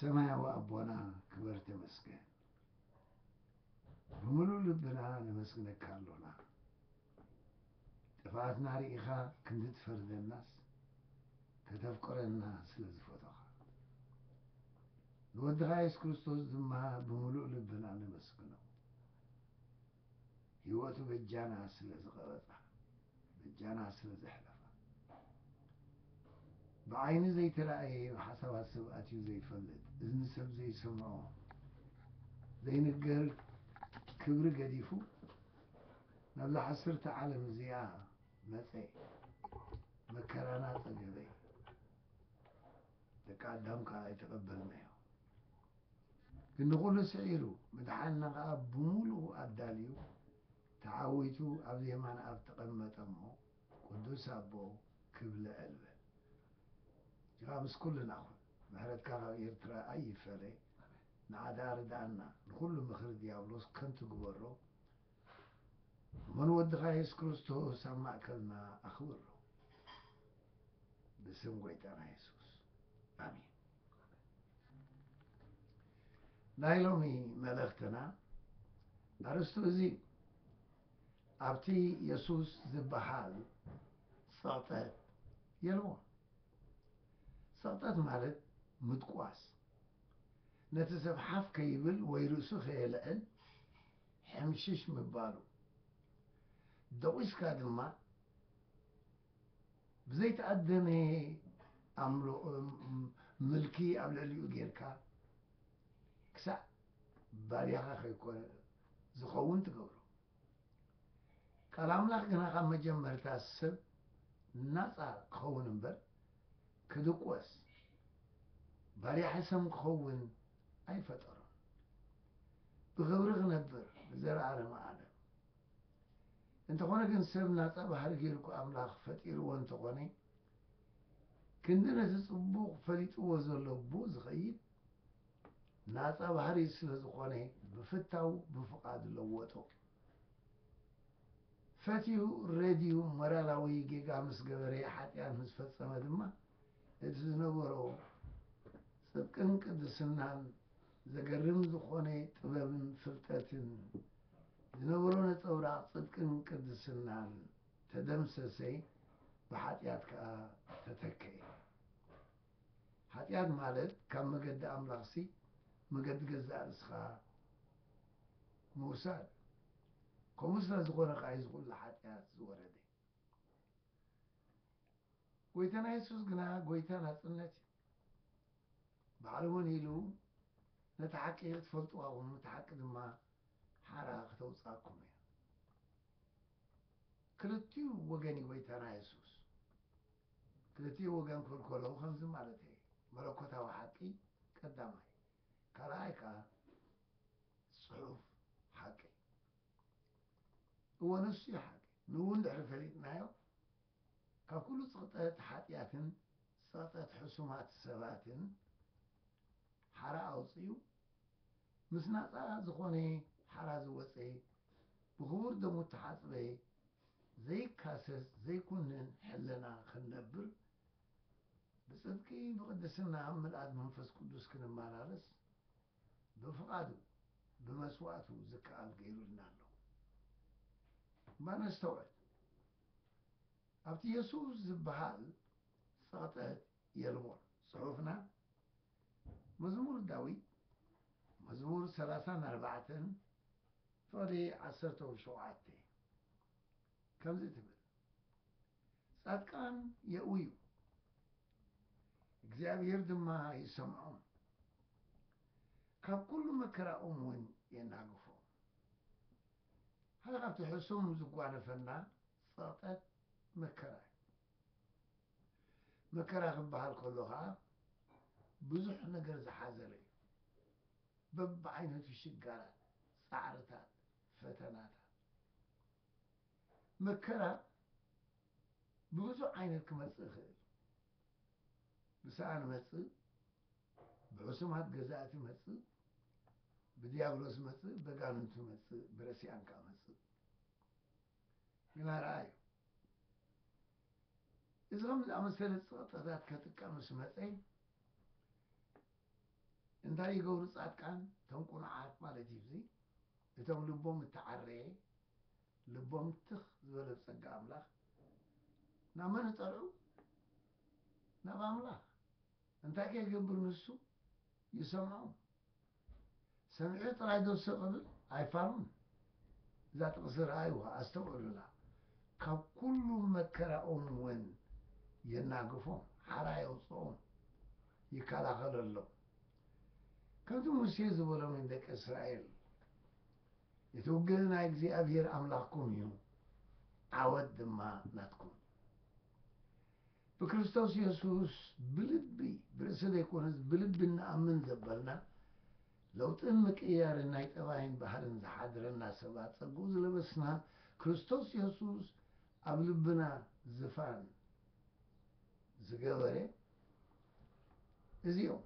ሰማያዊ ኣቦና ክበር ተመስገን ብምሉእ ልብና ነመስግነካ ኣሎና ጥፍኣትና ርኢኻ ክንዲ ትፈርደናስ ከተፍቅረና ስለ ዝፈቶኻ ንወድኻ የሱስ ክርስቶስ ድማ ብምሉእ ልብና ነመስግኖ ህይወቱ በጃና ስለ ዝቐበጻ በጃና ስለ ዘሕለፋ ብዓይኒ ዘይተራእየ ኣብ ሓሳባት ሰብ ኣትዩ ዘይፈልጥ እዝኒ ሰብ ዘይሰምዖ ዘይንገር ክብሪ ገዲፉ ናብዛ ሓስርቲ ዓለም እዚኣ መጸ መከራና ጸገበ ደቂ ኣዳም ከኣ ኣይተቐበልናዮ ግን ንኹሉ ስዒሩ ምድሓንና ከኣ ብምሉኡ ኣዳልዩ ተዓዊቱ ኣብዚ የማን ኣብ ተቐመጠ እሞ ቅዱስ ኣቦ ክብለ ኣልበል ጅራ ምስ ኩልና ኩን ምሕረትካ ካብ ኤርትራ ኣይፈለ ንዓ ደኣ ርድኣና ንኹሉ ምኽሪ ድያብሎስ ከንቱ ግበሮ እሞ ንወድኻ የሱስ ክርስቶስ ኣብ ማእከልና ኣኽብሮ ብስም ጎይታና የሱስ ኣሜን። ናይ ሎሚ መልእኽትና ኣርእስቱ እዚ እዩ። ኣብቲ የሱስ ዝበሃል ጸቕጠት የልቦን። ጸቕጠት ማለት ምድቋስ፣ ነቲ ሰብ ሓፍ ከይብል ወይ ርእሱ ከየልዕል ሕምሽሽ ምባሉ፣ ደቂስካ ድማ ብዘይተኣደነ ኣምሎ ምልኪ ኣብ ልዕሊኡ ጌርካ ክሳዕ ባርያኻ ከይኮነ ዝኸውን ትገብሮ። ቃል ኣምላኽ ግና ካብ መጀመርታ ሰብ ናጻ ክኸውን እምበር ክድቆስ ባርያ ሕሰም ክኸውን ኣይፈጠሮን። ብኽብሪ ክነብር ንዘለኣለመ ኣለም እንተኾነ ግን ሰብ ናጻ ባህሪ ገይሩኳ ኣምላኽ ፈጢርዎ እንተኾነ ክንዲ ነቲ ጽቡቕ ፈሊጥዎ ዘሎ ብኡ ዝኸይድ ናጻ ባህሪ ስለዝኾነ ብፍታው ብፍቓድ ለወጦ። ፈትዩ ረድዩ ሞራላዊ ጌጋ ምስ ገበረ ሓጢኣት ምስ ፈጸመ ድማ እቲ ዝነበሮ ጽብቅን ቅድስናን ዘገርም ዝኾነ ጥበብን ፍልጠትን ዝነበሮ ነጸብራቕ ጽድቅን ቅድስናን ተደምሰሰ፣ ብሓጢኣት ከኣ ተተከኤ። ሓጢኣት ማለት ካብ መገዲ ኣምላኽሲ መገዲ ገዛእ ርእስኻ ምውሳድ። ከምኡ ስለ ዝኾነ ከኣ እዩ እዚ ኩሉ ሓጢኣት ዝወረደ። ጎይታና የሱስ ግና ጎይታ ናጽነት እዩ። ባዕሉ እውን ኢሉ ነታ ሓቂ ክትፈልጡዋ ኩኑ እታ ሓቂ ድማ ሓራ ክተውጽኣኩም እያ። ክልቲኡ ወገን እዩ ጎይታና የሱስ። ክልቲኡ ወገን ክብል ከለኹ ከምዚ ማለተይ እዩ። መለኮታዊ ሓቂ ቀዳማይ ካልኣይ ከኣ ጽሑፍ ሓቂ። እወ ንሱ እዩ ሓቂ። ንእኡ እንድሕሪ ፈሊጥናዮ ካብ ኩሉ ጽቕጠት ሓጢኣትን ጸቕጠት ሕሱማት ሰባትን ሓራ ኣውጺኡ፣ ምስ ናጻ ዝኾነ ሓራ ዝወጸ፣ ብኽቡር ደሙ እተሓጽበ፣ ዘይካሰስ ዘይኩንን ሕልና ክንነብር፣ ብጽድቂ ብቕድስና ኣብ ምልኣት መንፈስ ቅዱስ ክንመላለስ፣ ብፍቓዱ ብመስዋእቱ ዝከኣል ገይሩልና ኣሎ። እባ ነስተውዕል! ኣብቲ የሱስ ዚብሃል ጸቕጠት የልቦን። ጽሑፍና መዝሙር ዳዊት መዝሙር ሰላሳን ኣርባዕተን ፍቕዲ ዓሰርተው ሸውዓተ ከምዚ ትብል፣ ጻድቃን የእውዩ፣ እግዚኣብሄር ድማ ይሰምዖም፣ ካብ ኵሉ መከራኦም እውን የናግፎም። ሓደ ካብቲ ሕሱም ዝጓነፈና ጸቕጠት መከራ እዩ። መከራ ክበሃል ከሎ ከኣ ብዙሕ ነገር ዝሓዘለ እዩ። በብዓይነቱ ሽጋራት፣ ጻዕርታት፣ ፈተናታት። መከራ ብብዙሕ ዓይነት ክመጽእ ይኽእል። ብሰኣን መጽእ፣ ብሕሱማት ገዛእቲ መጽእ፣ ብድያብሎስ መጽእ፣ በጋንንቱ መጽእ፣ ብረሲኣን ከኣ መጽእ። ግና ረኣዩ፣ እዚ ኸምዚ ዝኣመሰለ ጸቕጠታት ከጥቀ ምስ መጸ፣ እንታይ ይገብሩ ጻድቃን፣ እቶም ቁኑዓት ማለት እዩ እዚ፣ እቶም ልቦም እተዓረየ፣ ልቦም ትኽ ዝበለ ብጸጋ ኣምላኽ፣ ናብ መን ይጠልዑ? ናብ ኣምላኽ። እንታይ ከይገብር ንሱ ይሰምዖም ሰሚዑ ጥራይ ዶ ስቅ ክብል ኣይፋሉን እዛ ጥቅሲ ረኣይዋ ኣስተውዕሉላ ካብ ኩሉ መከራኦም ውን የናግፎም ሓራ የውጽኦም ይከላኸለሎም ከምቲ ሙሴ ዝበሎም ንደቂ እስራኤል እቲ ውግእ ናይ እግዚኣብሔር ኣምላኽኩም እዩ ዓወት ድማ ናትኩም ብክርስቶስ የሱስ ብልቢ ብርእሲ ዘይኮነስ ብልቢ እንኣምን ዘበልና ለውጥን ምቅይያርን ናይ ጠባይን ባህርን ዝሓድረና ሰባት ጸግኡ ዝለበስና ክርስቶስ የሱስ ኣብ ልብና ዝፋን ዝገበረ እዚኦም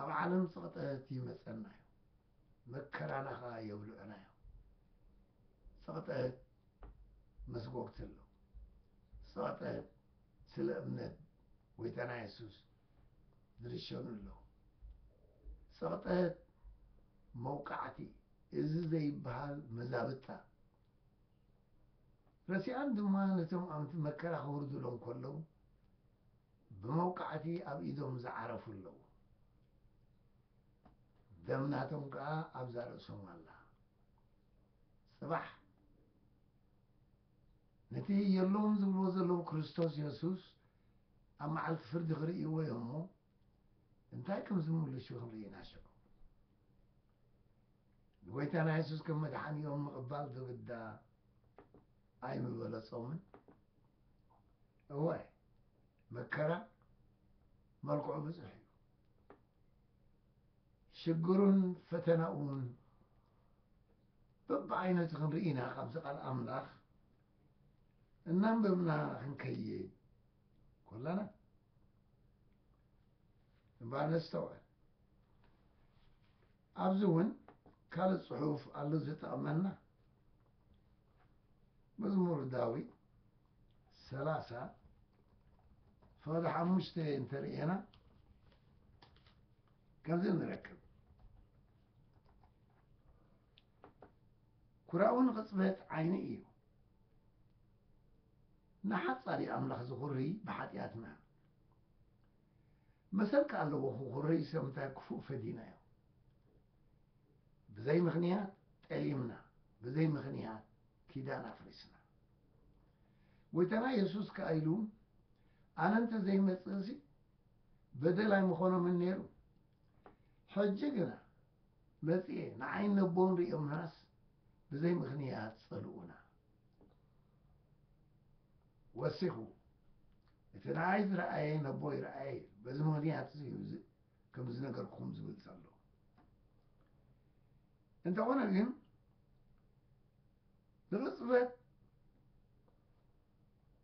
ኣብ ዓለም ጽቕጠት ይመጸና እዩ። መከራና ከኣ የብልዑናዮ ጸቕጠት መስጎግቲ ኣለዉ ጸቕጠት ስለ እምነት ጎይታና የሱስ ዝርሸኑ ኣለዉ ጸቕጠት መውቃዕቲ እዚ ዘይበሃል መዛብጣ ረሲኣን ድማ ነቶም ኣምቲ መከራ ክውርድሎም ከለዉ ብመውቃዕቲ ኣብ ኢዶም ዝዓረፉ ኣለዉ ደም ናቶም ከኣ ኣብዛ ርእሶም ኣላ ጽባሕ ነቲ የሎን ዝብልዎ ዘለዉ ክርስቶስ የሱስ ኣብ መዓልቲ ፍርዲ ክርእይዎ እዮም እሞ እንታይ ከም ዝምልሹ ክንርኢ ኢና ሽዑ ንጐይታና የሱስ ከም መድሓኒኦም ምቕባል ዝግዳ ኣይምበለጾምን እወ መከራ መልክዑ ብዙሕ እዩ ሽግሩን ፈተናኡን በብዓይነቱ ክንርኢ ኢና ካብዚ ቃል ኣምላኽ እናንበብና ክንከይድ ኮላና እምበኣር ነስተውዕል ኣብዚ እውን ካልእ ጽሑፍ ኣሎ ዝጠቕመና መዝሙር ዳዊት ሰላሳ ፈቐዶ ሓሙሽተ እንተ ርኤና ከምዚ ንረክብ ኩራኡ ንቕፅበት ዓይኒ እዩ ንሓፃሪ ኣምላኽ ዝኹሪ ብሓጢኣትና መሰልካ ኣለዎ ክኹሪ ሰምታይ ክፉእ ፈዲናዮ ብዘይ ምኽንያት ጠሊምና ብዘይ ምኽንያት ኪዳን ኣፍሪስና። ጎይታና የሱስ ከኣ ኢሉ ኣነ እንተ ዘይመጽእሲ በደል ኣይምኾኖምን ነይሩ። ሕጂ ግና መጺኤ ንዓይን ነቦን ርእዮምናስ ብዘይ ምኽንያት ጸልኡና። ወሲኹ እቲ ንዓይ ዝረኣየ ነቦይ ረኣየ በዚ ምኽንያት እዚ እዩ ከምዚ ነገርኩም ዝብል ዘሎ። እንተኾነ ግን ብቕጽበት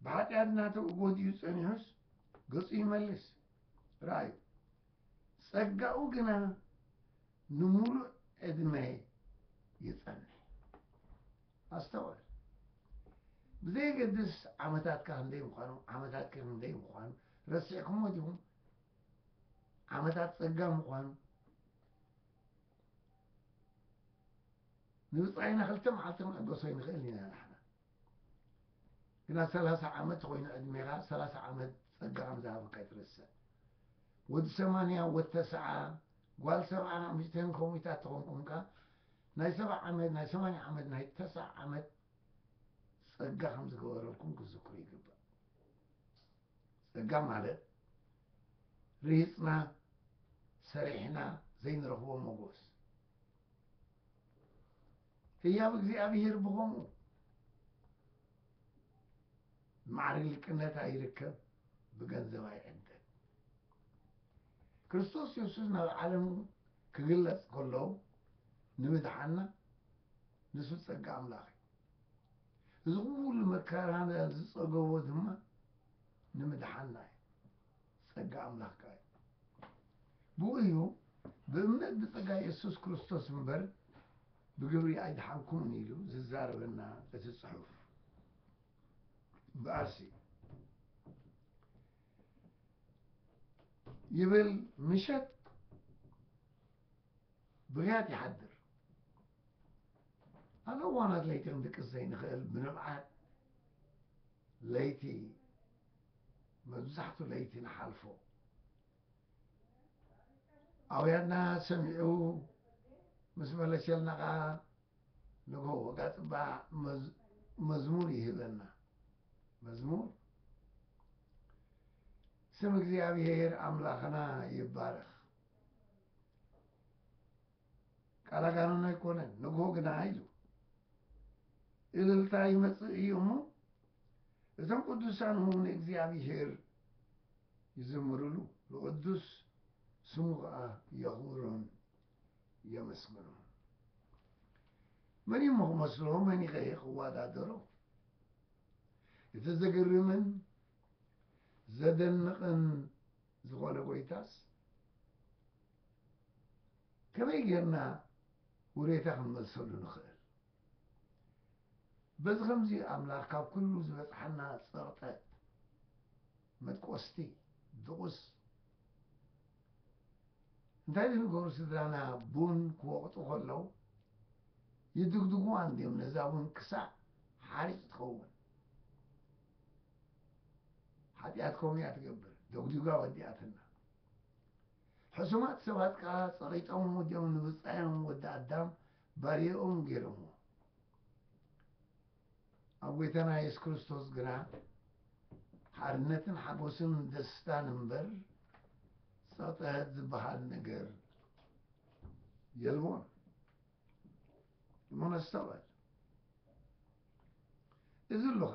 ብሓጢኣት ናተኡ ጎዲኡ ጸኒሑስ ገጹ ይመልስ ረኣዩ ጸጋኡ ግና ንምሉእ ዕድመ ይጸንሕ ኣስተውዕል ብዘየገድስ ዓመታትካ ክንደይ ምዃኑ ዓመታት ክንደይ ምዃኑ ረሲዕኩሞ ዲኹም ዓመታት ጸጋ ምዃኑ ንብጻይና ክልተ መዓልቲ ክንዕገሶ ኣይንኽእልን ኢና ንሕና ግና ሰላሳ ዓመት ኾይኑ ዕድሜኻ ሰላሳ ዓመት ጸጋ ከም ዝሃበካ ኣይትረስዕ ወዲ ሰማንያ ወድ ተስዓ ጓል ሰብዓ ኣምሽተን ኮሚታት ተኾንኩምካ ናይ ሰብዓ ዓመት ናይ ሰማንያ ዓመት ናይ ተስዓ ዓመት ጸጋ ከም ዝገበረልኩም ክዝክሩ ይግባእ ጸጋ ማለት ርሂጽና ሰሪሕና ዘይንረኽቦ ሞጎስ ህያብ እግዚኣብሔር ብኸምኡ ማዕርግ ልቅነት ኣይርከብ ብገንዘብ ኣይዕደል ክርስቶስ የሱስ ናብ ዓለም ክግለጽ ከሎ ንምድሓና ንሱ ጸጋ ኣምላኽ እዩ እዚ ኩሉ መከራና ዝጸገቦ ድማ ንምድሓንና እዩ ጸጋ ኣምላኽ ከኣ እዩ ብኡ እዩ ብእምነት ብጸጋ የሱስ ክርስቶስ እምበር ብግብሪ ኣይድሓንኩምን ኢሉ ዝዛረበና እቲ ጽሑፍ እምበኣርሲ ይብል ምሸት ብርያት ይሓድር ኣብ እዋናት ለይቲ ክንድቅስ ዘይንኽእል ብንብዓት ለይቲ መብዛሕቱ ለይቲ ንሓልፎ ኣውያትና ሰሚዑ ምስ መለሸልና ከዓ ንግሆ ወጋፅባ መዝሙር ይህበና መዝሙር ስም እግዚኣብሔር ኣምላኽና ይባረኽ። ቃላጋነን ኣይኮነን ንግሆ ግና እዩ እልልታ ይመጽእ እዩ እሞ እቶም ቅዱሳን እውን ንእግዚኣብሄር ይዝምርሉ ንቅዱስ ስሙ ከዓ የኽብሮን የመስግኖን መን እሞ ክመስሎ መን ይኸሄ ክወዳደሮ እቲ ዘገርምን ዘደንቕን ዝኾነ ጎይታስ ከመይ ጌርና ውሬታ ክንመልሰሉ ንኽእል? በዚ ኸምዚ ኣምላኽ ካብ ኵሉ ዝበጽሓና ጸቕጠት መድቈስቲ ድቑስ እንታይ ዝንገሩ ስድራና ቡን ክወቕጡ ከለዉ ይድግድጉዋ እንድዮም ነዛ ቡን ክሳዕ ሓርጭ ትኸውን ሓጢኣት ከምኡ እያ ትገብር ደጉዲጓ ወዲኣትና ሕሱማት ሰባት ከኣ ጸቒጦምዎ ድዮም ንብጻዮም ወዲ ኣዳም ባርያኦም ገይሮምዎ። ኣብ ጎይታና የሱስ ክርስቶስ ግና ሓርነትን ሓጎስን ደስታን እምበር ጸቕጥት ዝበሃል ነገር የልቦን። እሞ ነስተውዕል። እዚ ኣሎኻ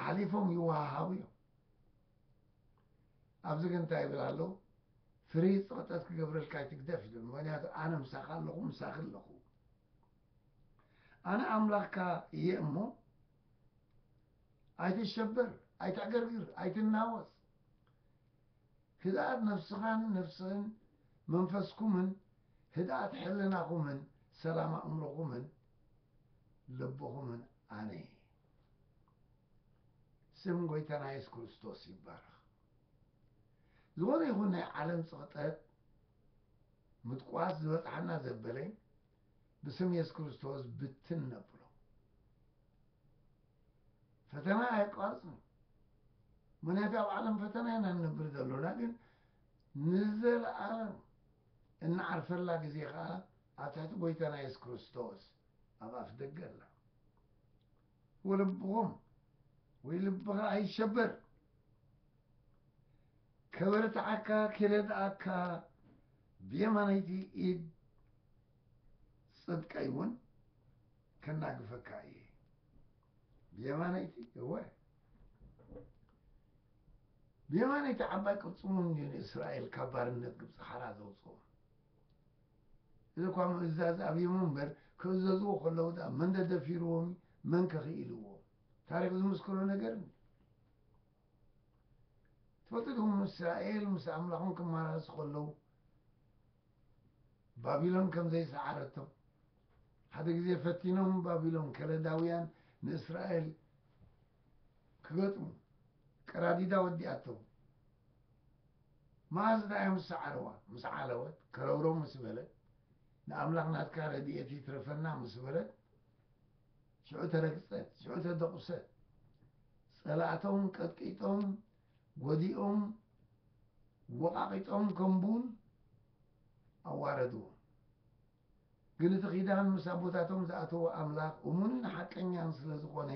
ኣሕሊፎም ይወሃሃቡ እዮም። ኣብዚ ግን እንታይ ይብል ኣሎ ፍሪ ፀቕጠት ክገብረልካ ይትግደፍ ይብል ምክንያቱ ኣነ ምሳኻ ኣለኹ ምሳኺ ኣለኹ ኣነ ኣምላኽካ እየ እሞ ኣይትሸበር ኣይትዕገርግር ኣይትናወፅ ህድኣት ነፍስኻን ነፍስህን መንፈስኩምን ህድኣት ሕልናኹምን ሰላም ኣእምሮኹምን ልብኹምን ኣነ እየ። ስም ጐይታና የሱስ ክርስቶስ ይባረኽ። ዝኾነ ይኹን ናይ ዓለም ጽቕጠት ምጥቋስ ዝበጽሓና ዘበለ ብስም የሱስ ክርስቶስ ብትን ነብሎ። ፈተና ኣየቋርጽን እዩ። ምክንያቱ ኣብ ዓለም ፈተና ኢና ንነብር ዘሎና ግን ንዘለኣለም እንዓርፈላ ግዜ ከዓ ኣብ ትሕቲ ጎይታና የሱስ ክርስቶስ ኣብ ኣፍደገ ኣላ። ወለብኹም ወይ ልብኻ ኣይሸበር። ከበርትዓካ ኪረድኣካ ብየማነይቲ ኢድ ጽድቀይ እውን ከናግፈካ እየ። ብየማነይቲ እወ ብየማነይቲ ዓባይ ቅልጽሙ ንእስራኤል ካብ ባርነት ግብጺ ሓራ ዘውጽኦም እዚ'ኳ ምእዛዝ ኣብዩም እምበር ክእዘዝዎ ከለዉ ድኣ መን ደደፊርዎም እዩ? መን ከ ክኢልዎም? ታሪኽ ዝምስክሮ ነገር እንድዩ። ትፈልጡ ዲኹም እስራኤል ምስ ኣምላኾም ክመላለሱ ከለዉ ባቢሎን ከም ዘይሰዓረቶም? ሓደ ግዜ ፈቲኖም ባቢሎን ከለዳውያን ንእስራኤል ክገጥሙ ቀራዲዳ ወዲኣቶም መኣዝ ድያ ምስ ሰዓረዋ ምስ ዓለወት ከረውረው ምስ በለት ንኣምላኽ ናትካ ረድኤት ይትረፈና ምስ በለት ሽዑ ተረግጸት ሽዑ ተደቑሰት ጸላእቶም ቀጥቂጦም ጎዲኦም ወቓቒጦም ከም ቡን ኣዋረድዎም ግን እቲ ኪዳን ምስ ኣቦታቶም ዝኣተዎ ኣምላኽ እሙንን ሓቀኛን ስለ ዝኾነ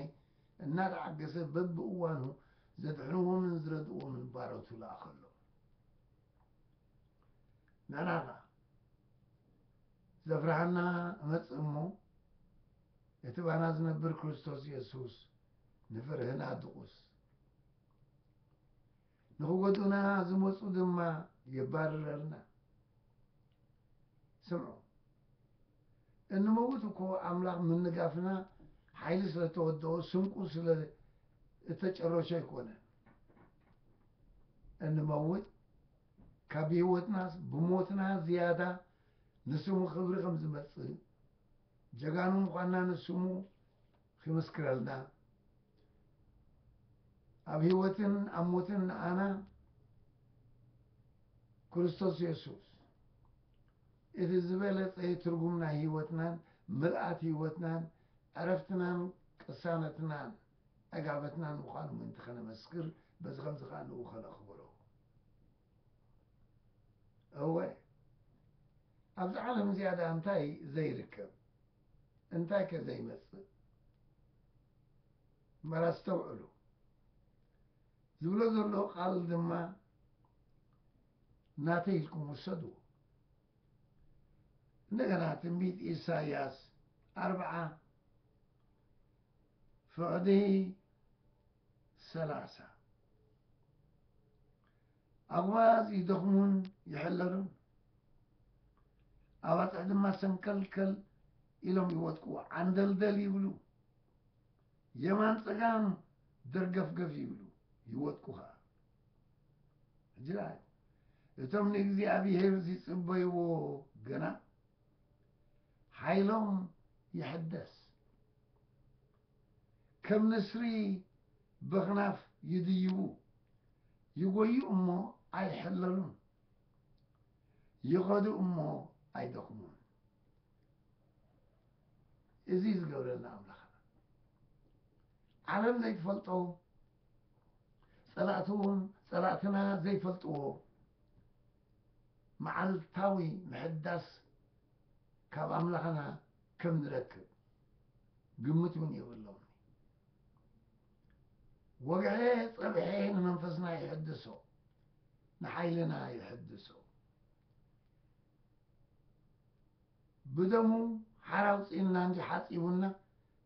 እናተዓገሰ በብእዋኑ ዘድሕንዎምን ዝረድእዎምን ባሮቱ ለኣኸሎም። ንሕና ኸኣ ዘፍርሃና እመጽእ እሞ እቲ ባና ዝነብር ክርስቶስ የሱስ ንፍርህና ድቑስ ንኽጎድኡና ዝመጹ ድማ የባርረልና። ስምዑ፣ እንመውት እኮ ኣምላኽ ምንጋፍና ሓይሊ ስለ እተወደኦ፣ ስንቁ ስለ እተጨረሾ ኣይኮነን። እንመውት ካብ ብህይወትናስ ብሞትና ዝያዳ ንስሙ ክብሪ ከም ዝመጽእ፣ ጀጋኑ ምዃንና ንስሙ ኺምስክረልና፣ ኣብ ህይወትን ኣብ ሞትን ንኣና ክርስቶስ የሱስ እቲ ዝበለጸ ትርጉም ናይ ህይወትናን ምልኣት ህይወትናን ዕረፍትናን ቅሳነትናን ዕጋበትናን ምዃኑ ምእንቲ ኸነመስክር በዚ ኸምዚ ኸኣ ንእኡ ኸነኽብሮ እወ ኣብዛ ዓለም እዚኣ ደኣ እንታይ ዘይርከብ እንታይ ከ ዘይመጽእ መራ ኣስተውዕሉ ዝብሎ ዘሎ ቃል ድማ ናተይ ኢልኩም ውሰድዎ እንደገና ትንቢት ኢሳያስ ኣርብዓ ፍቕዲ ሰላሳ ኣጉባዝ ይደኽሙን ይሕለሉን፣ ኣባፅሕ ድማ ሰንከልከል ኢሎም ይወድቁ፣ ዓንደልደል ይብሉ፣ የማን ፀጋም ደርገፍገፍ ይብሉ ይወድቁ ከዓ ሕጂ ረኣዩ እቶም ንእግዚኣብሔር ዝፅበይዎ ግና ሓይሎም ይሕደስ ከም ንስሪ በኽናፍ ይድይቡ፣ ይጎዩ እሞ ኣይሕለሉን፣ ይኸዱ እሞ ኣይደኽሙን። እዚ እዩ ዝገብረልና ኣምላኽና። ዓለም ዘይትፈልጦ፣ ጸላእቱ እውን ጸላእትና ዘይፈልጥዎ መዓልታዊ ምሕዳስ ካብ ኣምላኽና ከም ዝረክብ ግምት እውን የብሎምን እዩ። ወግዔ ጸብዔ ንመንፈስና ይሕድሶ፣ ንሓይልና ይሕድሶ። ብደሙ ሓራውጺንና እንጂ ሓጺቡና፣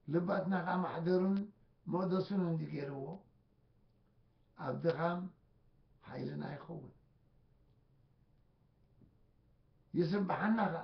ልባትና ከኣ ማሕደሩን መቕደሱን እንዲ ገይርዎ፣ ኣብ ድኻም ሓይልና ይኸውን። ይስብሓና ከኣ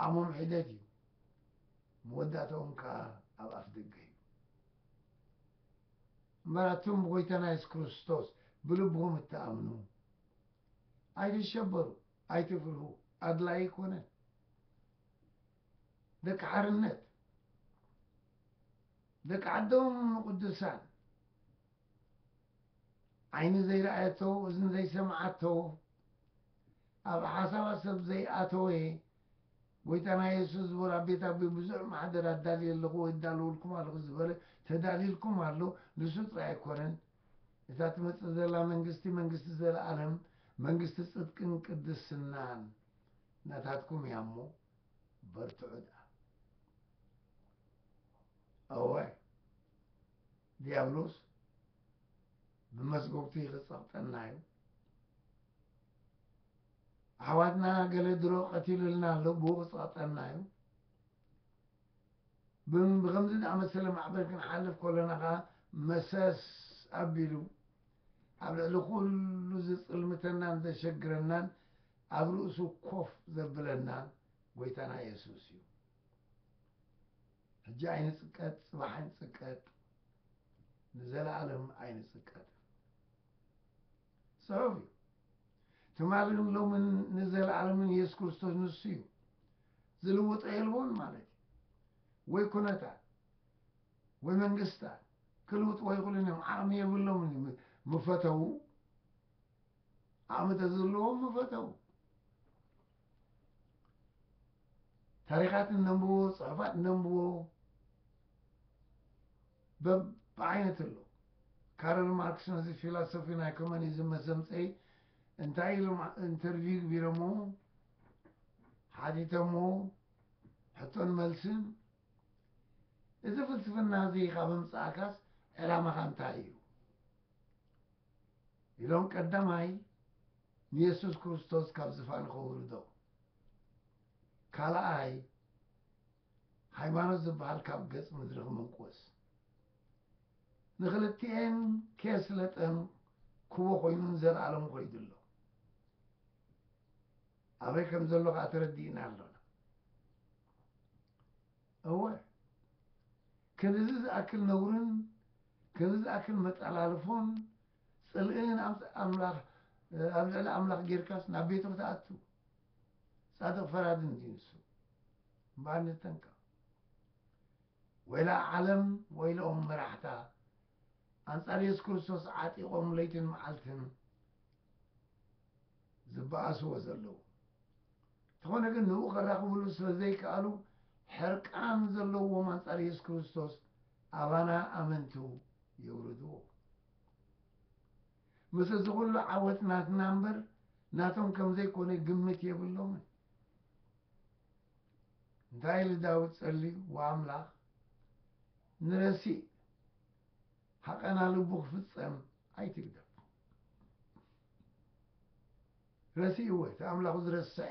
ዓቕሞም ሒደት እዩ፣ መወዳእታኦም ከኣ ኣብ ኣፍ ደገ እዩ። እምበር ኣቱም ብጐይታና የሱስ ክርስቶስ ብልብኹም እትኣምኑ፣ ኣይትሸበሩ፣ ኣይትፍርሁ፣ ኣድላዪ ኣይኮነን። ደቂ ሓርነት ደቂ ዓዶም ንቕዱሳን ዓይኒ ዘይረኣየቶ እዝኒ ዘይሰምዓቶ ኣብ ሓሳባት ሰብ ዘይኣተወ ጎይታና የሱስ ዝበሎ ኣብ ቤት ኣቦይ ብዙሕ ማሕደር ኣዳልየ ኣለኹ ወይ እዳለወልኩም ኣለኹ ዝበለ ተዳልዩልኩም ኣሎ ንሱ ጥራይ ኣይኮነን እታ ትመጽእ ዘላ መንግስቲ መንግስቲ ዘለኣለም መንግስቲ ጽድቅን ቅድስናን ናታትኩም እያ እሞ በርትዑ ደኣ እወ ድያብሎስ ብመስጎግቲ ክጸቕጠና እዩ። ኣሕዋትና ገለ ድሮ ቀቲሉልና ኣሎ፣ ብኡ ክጸቕጠና እዩ። ብከምዚ ዝኣመሰለ ማዕበል ክንሓልፍ ከሎና ከዓ መሰስ ኣቢሉ ኣብ ልዕሊ ኩሉ ዝጽልምተናን ዘሸግረናን ኣብ ርእሱ ኮፍ ዘብለና ጎይታና የሱስ እዩ። ሕጂ ኣይንጽቀጥ ጽባሕ ኣይንጽቀጥ ንዘለኣለም ኣይንጽቀጥ ጽሑፍ እዩ ትማልን ሎምን ንዘለኣለምን የሱስ ክርስቶስ ንሱ እዩ ዝልውጦ የልቦን ማለት እዩ ወይ ኩነታት ወይ መንግስታት ክልውጥዎ ይኽእሉን እዮም ዓቕሚ የብሎምን እዩ ምፈተው ዓቕሚ ተዝህልዎም ምፈተው ታሪኻት እነንብቦ ፅሑፋት እነንብቦ በብዓይነት ኣሎ ካረል ማርክስ ነዚ ፊላሶፊ ናይ ኮሚኒዝም መሰምፀይ እንታይ ኢሎም ኢንተርቪው ግቢረሞ ሓቲተሞ ሕቶን መልስን እዚ ፍልስፍና እዚ ካብ ምምፃእካስ ዕላማኻ እንታይ እዩ ኢሎም ቀዳማይ ንየሱስ ክርስቶስ ካብ ዝፋኑ ከውርዶ፣ ካልኣይ ሃይማኖት ዝበሃል ካብ ገጽ ምድሪ ክምንቁስ፣ ንክልቲኤን ኬስለጠን ክቦ ኮይኑ ንዘለኣለሙ ከይዱ ኣሎ። ኣበይ ከም ዘሎ ከዓ ተረዲእና ኣሎና። እወ ክንድዚ ዝኣክል ነውርን ክንድዚ ዝኣክል መጠላልፎን ጽልእን ኣብ ኣምላኽ ኣብ ልዕሊ ኣምላኽ ጌርካስ ናብ ቤቱ ክትኣቱ ጻድቕ ፈራዲ እንድዩ ንሱ እምበኣር ንጠንቀቕ ወይላ ዓለም ወይልኦም መራሕታ ኣንጻር የሱስ ክርስቶስ ዓጢቖም ለይትን መዓልትን ዝበኣስዎ ዘለዉ። እንተኾነ ግን ንእኡ ከራኽብሉ ስለ ዘይከኣሉ ሕርቃን ዘለዎም ኣንጻር የሱስ ክርስቶስ ኣባና ኣመንቱ የውርድዎ። ምስ እዚ ኩሉ ዓወት ናትና እምበር ናቶም ከም ዘይኮነ ግምት የብሎምን። እንታይ ኢሉ ዳዊት ጸልዩ? ወኣምላኽ ንረሲእ ሃቐና ልቡ ክፍጸም ኣይትግደፎ። ረሲእዎ እቲ ኣምላኹ ዝረስዐ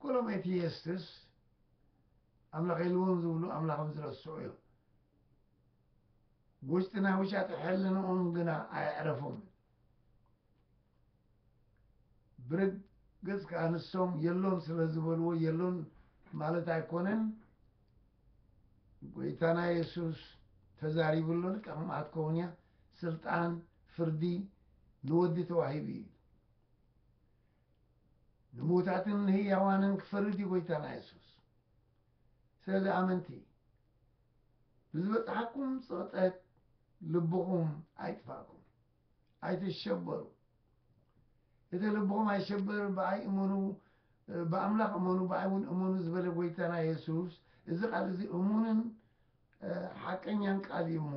ኩሎም ኤቲየስትስ ኣምላኽ የልዎም ዝብሉ ኣምላኽም ዝረስዑ እዮም። ውሽጢ ናይ ውሻጢ ሕልንኦም ግና ኣየዕረፉን። ብርግጽ ከኣ ንሶም የሎን ስለ ዝበልዎ የሎን ማለት ኣይኮነን። ጎይታና የሱስ ተዛሪቡ ኣሎ፣ ልክዕኩም ኣትከውን እያ፣ ስልጣን ፍርዲ ንወዲ ተዋሂቡ እዩ። ንምዉታትን ንህያዋንን ክፈርድ እዩ ጎይታና የሱስ። ስለዚ ኣመንቲ ብዝበጽሓኩም ጽቕጠት ልብኹም ኣይጥፋእኩም። ኣይትሸበሩ እቲ ልብኹም ኣይሸበር ብኣይ እመኑ ብኣምላኽ እመኑ ብኣይ እውን እመኑ ዝበለ ጎይታና የሱስ እዚ ቃል እዚ እሙንን ሓቀኛን ቃል እዩ እሞ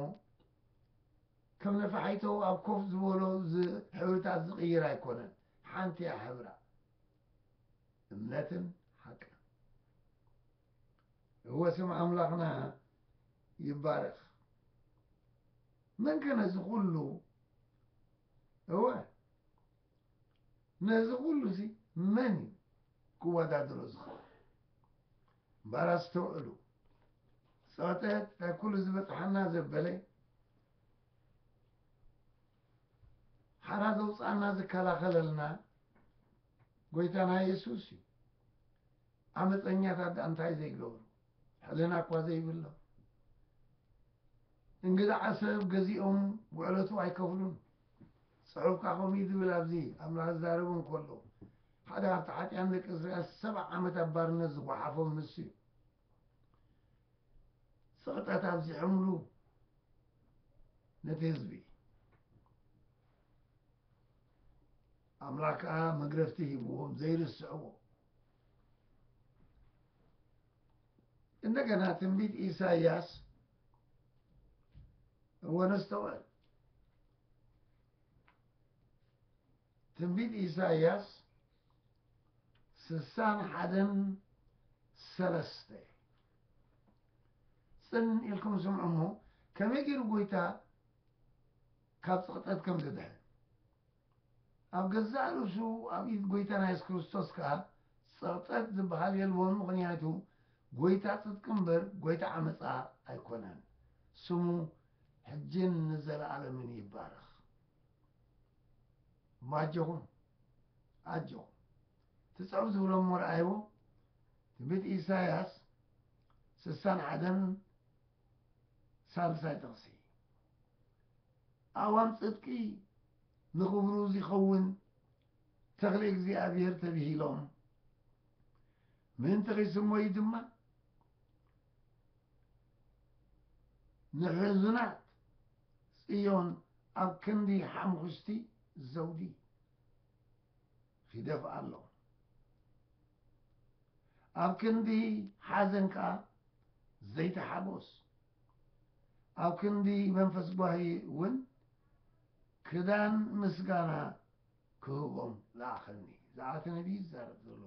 ከም ነፋሒቶ ኣብ ኮፍ ዝበሎ ሕብርታት ዝቕይር ኣይኮነን ሓንቲ እያ ሕብራ እምነትን ሓቅን እወ ስም ኣምላኽና ይባረኽ መን ከ ነዚ ኩሉ እወ ነዚ ኩሉ እዚ መን እዩ ክወዳድሮ ዝኽእል እምበኣር ኣስተውዕሉ ፀወተት እንታይ ኩሉ ዝበፅሓና ዘበለ ሓራ ዘውፅኣና ዝከላኸለልና ጎይታና የሱስ እዩ ዓመፀኛታት ዳኣ እንታይ ዘይገብሩ ሕልና እኳ ዘይብሎም እንግድዓ ሰብ ገዚኦም ውዕለቱ ኣይከፍሉን። ጽሑፍካ ከምኡ ዝብል ኣብዚ ኣምላኽ ዝዛረብ እንከሎ ሓደ ካብቲ ሓጢኣን ደቂ እስራኤል ሰብዓ ዓመት ኣብ ባርነት ዝጓሓፎም ንሱ እዩ። ስቕጠት ኣብዚሖምሉ ነቲ ህዝቢ ኣምላክ ከዓ መግረፍቲ ሂብዎም ዘይርስዕዎ እንደገና ትንቢት ኢሳይያስ ወነስተውዕል ትንቢት ኢሳይያስ ስሳን ሓደን ሰለስተ ጽን ኢልኩም ስምዑ እሞ ከመይ ገይሩ ጐይታ ካብ ጽቕጠት ከም ዝድሕን ኣብ ገዛእ ርእሱ ኣብ ኢድ ጎይታና የሱስ ክርስቶስ ከኣ ጸቕጠት ዝበሃል የልቦን ምኽንያቱ ጎይታ ጽድቂ እምበር ጎይታ ዓመጻ ኣይኮነን። ስሙ ሕጅን ንዘለኣለምን ይባረኽ። እሞ ኣጆኹም ኣጆኹም ትጽሑፍ ዝብሎም እሞ ረኣይዎ ትንቢት ኢሳያስ ስሳን ሓደን ሳልሳይ ጥቕሲ ኣእዋም ጽድቂ ንኽብሩ ዚኸውን ተኽሊ እግዚኣብሔር ተብሂሎም ምእንቲ ኺስመዩ ድማ ንሕዙናት ጽዮን ኣብ ክንዲ ሓምኹሽቲ ዘውዲ ኺደፍኣሎም ኣብ ክንዲ ሓዘን ከኣ ዘይተሓጎስ ኣብ ክንዲ መንፈስ ጓሂ እውን ክዳን ምስጋና ክህቦም ለኣኸኒ። ዝዓተ ነቢይ እዩ ዝዛረብ ዘሎ፣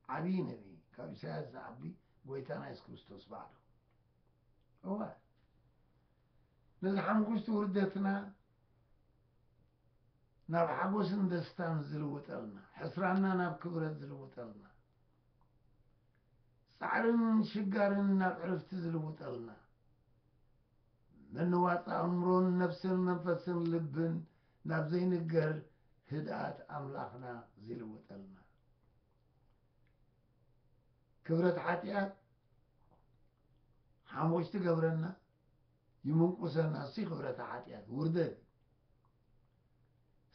ዓብዪ ነቢይ፣ ካብ ኢሳያስ ዝዓቢ ጐይታና የሱስ ክርስቶስ ባዕሉ። እወ ነዚ ሓምኩሽቲ ውርደትና ናብ ሓጎስን ደስታን ዝልውጠልና፣ ሕስራና ናብ ክብረት ዝልውጠልና፣ ጻዕርን ሽጋርን ናብ ዕርፍቲ ዝልውጠልና፣ ምንዋጽ ኣእምሮን ነፍስን መንፈስን ልብን ናብ ዘይንገር ህድኣት ኣምላኽና ዚልውጠልና፣ ክብረት ሓጢኣት ሓሞች ትገብረና፣ ይምንቁሰና፣ እሱይ ክብረታ ሓጢኣት ውርደት እዩ።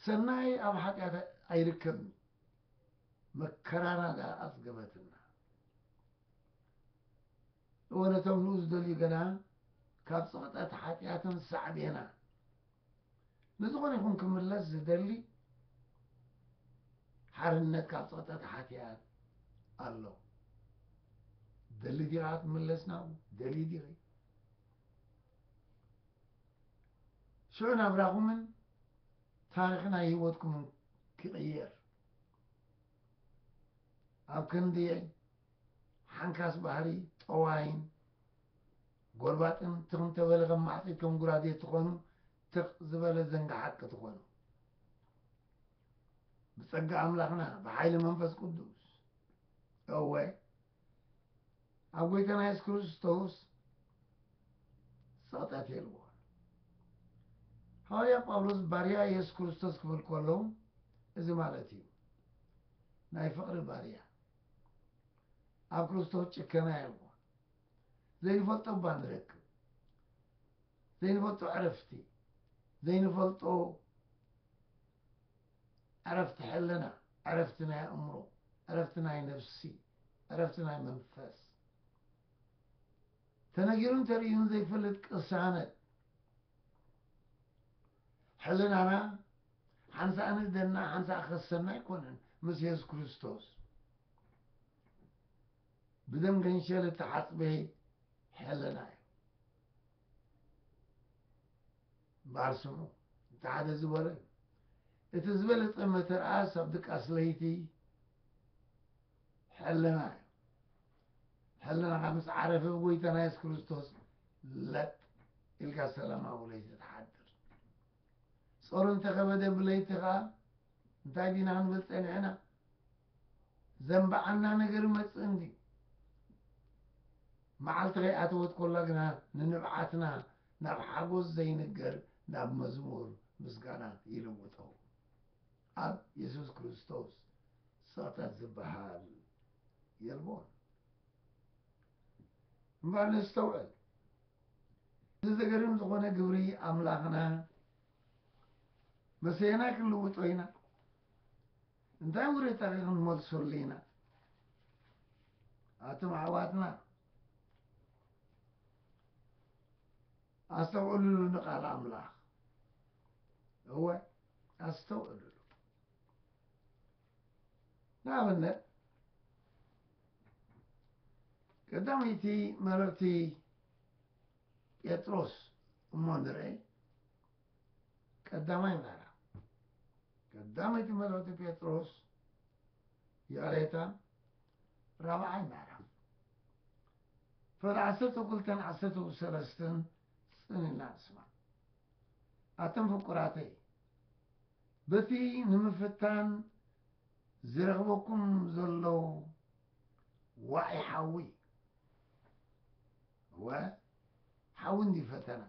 ሰናይ ኣብ ሓጢኣት ኣይርከብን እዩ። መከራና ድኣ ኣጽገበትና እወ ነቶም ንኡ ዝደልዩ ገና ካብ ጽቕጠት ሓጢኣትን ሳዕቤና ንዝኾነ ይኹን ክምለስ ዝደሊ ሓርነት ካብ ጽቕጠት ሓጢኣት ኣሎ ደሊ ዲኻ ክትምለስ ናብኡ ደሊ ዲኺ ሽዑ ናብራኹምን ታሪኽ ናይ ህይወትኩም ክቕየር ኣብ ክንድየይ ሓንካስ ባህሪ ጠዋይን ጎርባጥን ትኽ እንተበለ ከም ማዕጺድ ከም ጉራዴ ትኾኑ ትኽ ዝበለ ዘንግሓት ክትኾኑ ብጸጋ ኣምላኽና ብሓይሊ መንፈስ ቅዱስ እወ ኣብ ጎይታና የሱስ ክርስቶስ ጸቕጠት የልቦን ሃዋርያ ጳውሎስ ባርያ የሱስ ክርስቶስ ክብል ከለዉ እዚ ማለት እዩ ናይ ፍቕሪ ባርያ ኣብ ክርስቶስ ጭከና የልቦን ዘይንፈልጦ እባ ንረክብ ዘይንፈልጦ ዕረፍቲ ዘይንፈልጦ ዕረፍቲ ሕልና፣ ዕረፍቲ ናይ ኣእምሮ፣ ዕረፍቲ ናይ ነፍሲ፣ ዕረፍቲ ናይ መንፈስ፣ ተነጊሩን ተርእዩን ዘይፈልጥ ቅሳነት ሕልናና ሓንሳእ ንእደና ሓንሳእ ከሰና ኣይኮነን ምስ የሱስ ክርስቶስ ብደም ገንሸል እተሓፅበ ሕልና እዩ። እምበኣር ስምዑ፣ እቲ ሓደ ዝበሎ እዩ፣ እቲ ዝበለጸ መተርኣስ ኣብ ድቃስ ለይቲ ሕልና እዩ። ሕልናኻ ምስ ዓረፈ ብጎይታና የሱስ ክርስቶስ ለጥ ኢልካ ሰላማዊ ለይቲ ትሓድር። ጾር እንተኸበደ ብለይቲ ኸኣ እንታይ ዲና ክንብል ጸኒሕና? ዘንበዓና ነገር ይመጽእ እንድዩ። መዓልቲ ከይኣተወት ኮላ ግና ንንብዓትና ናብ ሓጎስ ዘይንገር ናብ መዝሙር ምስጋና ይልውጦ። ኣብ የሱስ ክርስቶስ ጸቕጠት ዝበሃል የልቦን። እምበኣር ነስተውዕል። እዚ ዘገርም ዝኾነ ግብሪ ኣምላኽና መሰየናይ ክንልውጦ ኢና? እንታይ ውሬታ ክንመልሰሉ ኢና? ኣቶም ኣሕዋትና ኣስተውዕሉሉ ንቃል ኣምላኽ እወ ኣስተውዕሉሉ ንኣብነት ቀዳመይቲ መልእኽቲ ጴጥሮስ እሞ ንርአይ ቀዳማይ ምዕራፍ ቀዳመይቲ መልእኽቲ ጴጥሮስ ይቕሬታ ራብዓይ ምዕራፍ ፈር ዓሰርተው ክልተን ዓሰርተው ሰለስተን ጽን ኢልና ንስማዕ። ኣቶም ፍቁራተይ በቲ ንምፍታን ዝረኽበኩም ዘለዉ ዋዒ ሓዊ እወ ሓዊ እንዲ ፈተና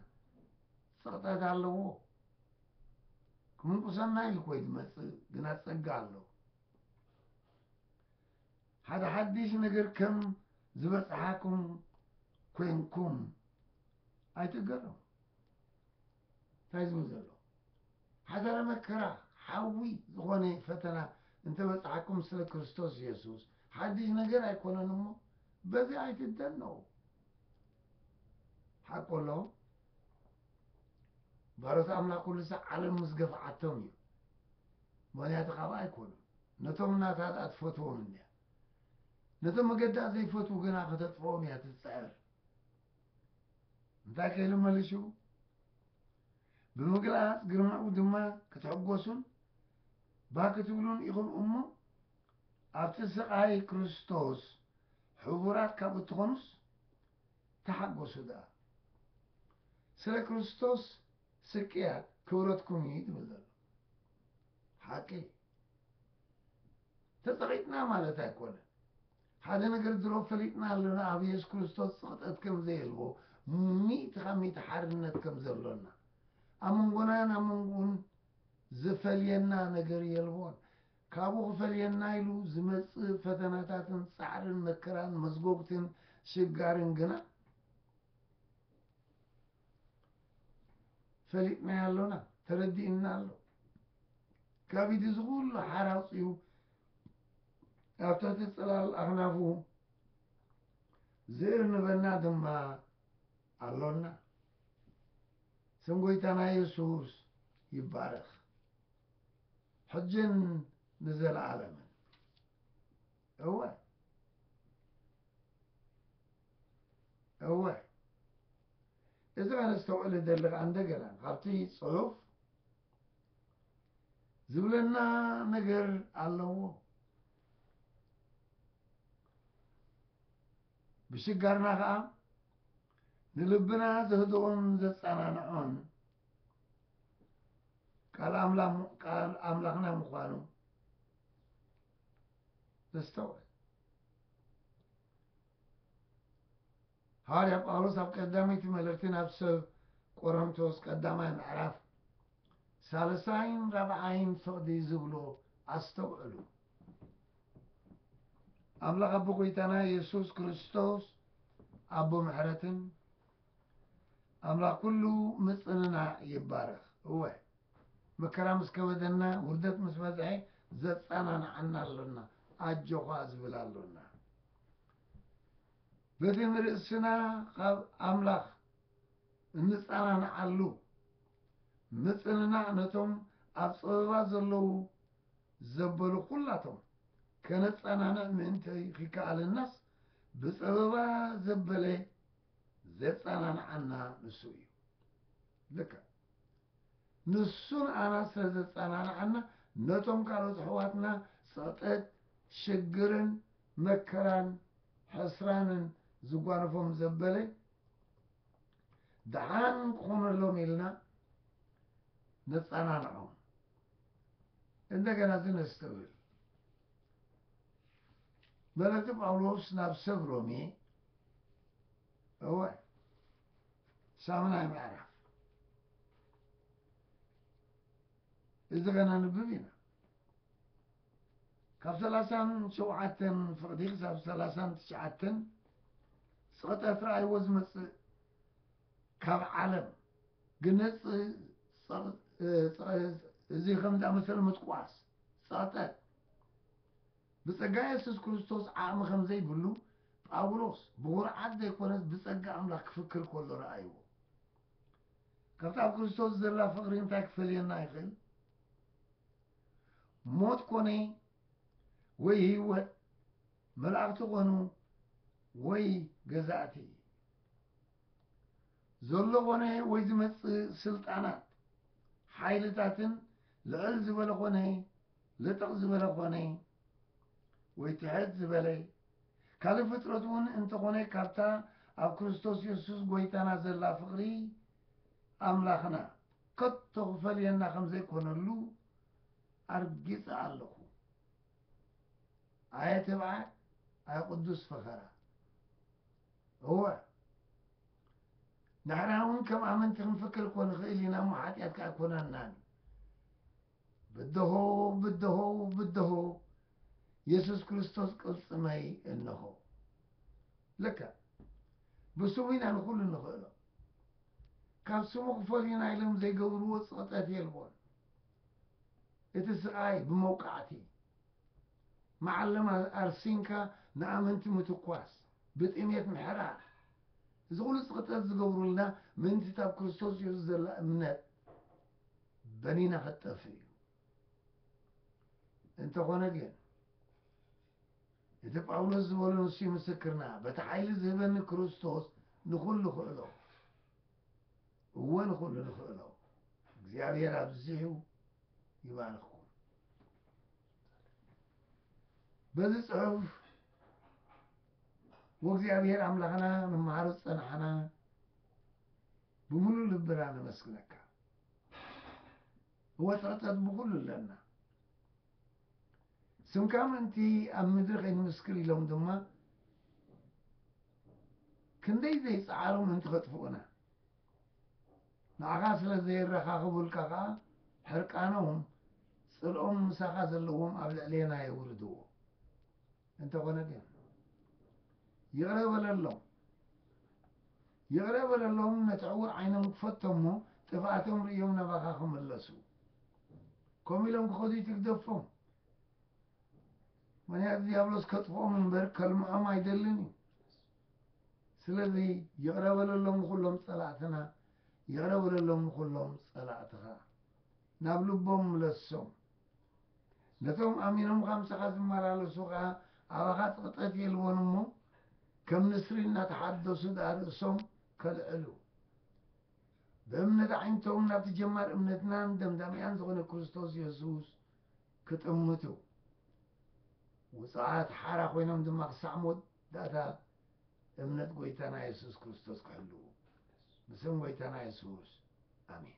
ጽቕጠት ኣለዎ ክምንቁሰና ኢልኮይ ዝመጽእ ግና ጸጋ ኣለዎ ሓደ ሓዲሽ ነገር ከም ዝበጽሓኩም ኮንኩም ኣይትገረሙ። እንታይ ዝብል ዘሎ ሓደረ መከራ ሓዊ ዝኾነ ፈተና እንተበጽሓኩም ስለ ክርስቶስ የሱስ ሓድሽ ነገር ኣይኮነን እሞ በዚ ኣይትደነው ሓቁ ኣሎ ባሮት ኣምላኽ ኩሉ ሳዕ ዓለም ምስ ገፍዓቶም እዩ ምኽንያቱ ካብኣ ኣይኮኑን ነቶም ናታ ድኣ ትፈትዎም እንድያ ነቶም መገዳ ዘይፈትዉ ግና ከተጥፍኦም እያ ትጽዕር እንታይ ከይሉ መልሹ ብምግላጽ ግርማኡ ድማ ክትሕጎሱን ባክትብሉን ኢኹም እሞ ኣብቲ ስቓይ ክርስቶስ ሕቡራት ካብ እትኾኑስ ተሓጎሱ ድኣ ስለ ክርስቶስ ስቅያት ክብረትኩም ኢዩ ዝብል ዘሎ ሓቂ ኢዩ ተጸቂጥና ማለት ኣይኮነን ሓደ ነገር ድሮ ፈሊጥና ኣለና ኣብ የሱስ ክርስቶስ ጽቕጠት ከም ዘየልቦ ሚእቲ ካብ ሚእቲ ሓርነት ከም ዘሎና ኣብ መንጎናን ኣብ መንጎኡን ዝፈልየና ነገር የልቦን ካብኡ ክፈልየና ኢሉ ዝመጽእ ፈተናታትን ጻዕርን መከራን መስጎግትን ሽጋርን ግና ፈሊጥናዮ ኣሎና ተረዲእና ኣሎ ካብ ኢቲ እዚ ኩሉ ሓራ ኣውፅኡ ኣብ ትሕቲ ፅላል ኣኽናፉ ዝእርንበና ድማ ኣሎና ስም ጎይታና የሱስ ይባረኽ ሕጅን ንዘለዓለምን እወ እወ እዚ ኣነስተውዕል እደሊ ከዓ እንደገና ካብቲ ፅሑፍ ዝብለና ነገር ኣለዎ ብሽጋርና ከዓ ንልብና ዘህድኦን ዘፀናንዖን ቃል ኣምላኽና ምዃኑ ነስተውዕል። ሃዋርያ ጳውሎስ ኣብ ቀዳመይቲ መልእኽቲ ናብ ሰብ ቆሮንቶስ ቀዳማይ ምዕራፍ ሳልሳይን ራብዓይን ፍቕዲ ዝብሎ ኣስተውዕሉ። ኣምላኽ ኣቦ ጐይታና የሱስ ክርስቶስ ኣቦ ምሕረትን ኣምላኽ ኩሉ ምጽንናዕ ይባረኽ። እወ መከራ ምስ ከበደና ውርደት ምስ በዝሐ ዘጻናንዓና ኣሎና ኣጆዃ ዝብል ኣሎና። በቲ ንርእስና ካብ ኣምላኽ እንጻናንዓሉ ምጽንናዕ ነቶም ኣብ ጸበባ ዘለዉ ዘበሉ ኩላቶም ከነጻናንዕ ምእንቲ ኺከኣለናስ ብጸበባ ዘበለ ዜጸናንዓና ንሱ እዩ። ልክዕ ንሱ ንኣና ስለ ዘጸናንዓና፣ ነቶም ካልኦት ኣሕዋትና ጸቕጥት፣ ሽግርን፣ መከራን፣ ሕስራንን ዝጓነፎም ዘበለ ደሓን ክኾነሎም ኢልና ነጸናንዖም። እንደገና እዚ ነስተውዕል። መልእኽቲ ጳውሎስ ናብ ሰብ ሮሜ እወ ሳምናይ ምዕራፍ እዚ ከነንብብ ኢና ካብ ሰላሳን ሸውዓተን ፍቕዲ ክሳብ ሰላሳን ትሽዓተን ፀቕጠት ረኣይዎ ዝመፅእ ካብ ዓለም ግነፅ እዚ ከም ዝኣመሰለ ምጥቋስ ፀቕጠት ብጸጋ የሱስ ክርስቶስ ዓቕሚ ከም ዘይብሉ ጳውሎስ ብዅርዓት ዘይኰነስ ብጸጋ ኣምላኽ ክፍክር ከሎ ረኣይዎ። ካብቲ ኣብ ክርስቶስ ዘላ ፍቕሪ እንታይ ክፈልየና ይኽእል? ሞት ኰነ ወይ ህይወት፣ መላእኽቲ ዀኑ ወይ ገዛእቲ፣ ዘሎ ዀነ ወይ ዝመጽእ ስልጣናት፣ ሓይልታትን ልዕል ዝበለ ዀነ ልጥቕ ዝበለ ኮነ ወይ ትሕት ዝበለ ካልእ ፍጥረት እውን እንተ ኾነ ካብታ ኣብ ክርስቶስ የሱስ ጐይታና ዘላ ፍቕሪ ኣምላኽና ከቶ ክፈልየና ከም ዘይኮነሉ ኣርጊጸ ኣለኹ። ኣየ ትብዓት ኣየ ቅዱስ ፈኸራ እወ ንሕና እውን ከም ኣመንቲ ክንፍክር እኮ ንኽእል ኢና እሞ ሓጢኣት ከኣ ኣይኮነናን ብድሆ ብድሆ ብድሆ የሱስ ክርስቶስ ቅልጽመይ እንሆ ልክዕ ብስሙ ኢና ንኹሉ ንኽእሎ ካብ ስሙ ክፈልዩና ኢሎም ዘይገብርዎ ጽቕጠት የልቦን እቲ ስቓይ ብመውቃዕቲ መዓለማ ኣርሲንካ ንኣመንቲ ምትኳስ ብጥሜት ምሕራር እዚ ኹሉ ጽቕጠት ዝገብሩልና ምእንቲ ኣብ ክርስቶስ የሱስ ዘላ እምነት በኒና ክትጠፍእ እዩ። እንተኾነ ግን እቲ ጳውሎስ ዝበሎ ንሱ ምስክርና በቲ ሓይሊ ዝህበኒ ክርስቶስ ንኹሉ ክእሎ እወ ንኹሉ ንኽእሎ እግዚኣብሔር ኣብዚሑ ይባርኽኩም። በዚ ጽሑፍ ወእግዚኣብሔር ኣምላኽና ንመሃሮ ዝጸናሕና ብምሉእ ልብና ነመስግነካ እወ ትሕተት ብኩሉ ኣለና ስምካ ምእንቲ ኣብ ምድሪ ከይንምስክር ኢሎም ድማ ክንደይ ዘይጸዓሩ ምእንቲ ከጥፍኡና ንዓኻ ስለ ዘየረኻኽቡልካ ከኣ ሕርቃኖም ጽልኦም ምሳኻ ዘለዎም ኣብ ልዕሌና የውርድዎ እንተኾነ ግን ይቕረ በለሎም ይቕረ በለሎም ነቲ ዕዉር ዓይኖም ክፈቶሞ ጥፍኣቶም ርእዮም ናባኻ ክምለሱ ከምኡ ኢሎም ክኸዱ ኣይትግደፎም ምኽንያቱ ዲያብሎስ ከጥፍኦም እምበር ከልምዖም ኣይደልን እዩ ስለዚ ይቕረ በለሎም ንኹሎም ጸላእትና ይቕረ በለሎም ንኹሎም ጸላእትኻ ናብ ልቦም ምለሶም ነቶም ኣሚኖምኻ ምሳኻ ዝመላለሱ ከኣ ኣባኻ ጽቕጠት የልቦን እሞ ከም ንስሪ እናተሓደሱ ደኣ ርእሶም ከልዕሉ ብእምነት ኣዒንቶም ናብቲ ጀማር እምነትናን ደምዳሚኣን ዝኾነ ክርስቶስ የሱስ ክጥምቱ ውጹዓት ሓራ ኮይኖም ድማ ክሳዕ ሞት ዳታ እምነት ጎይታና የሱስ ክርስቶስ ክሕልዉ ብስም ጎይታና የሱስ ኣሜን።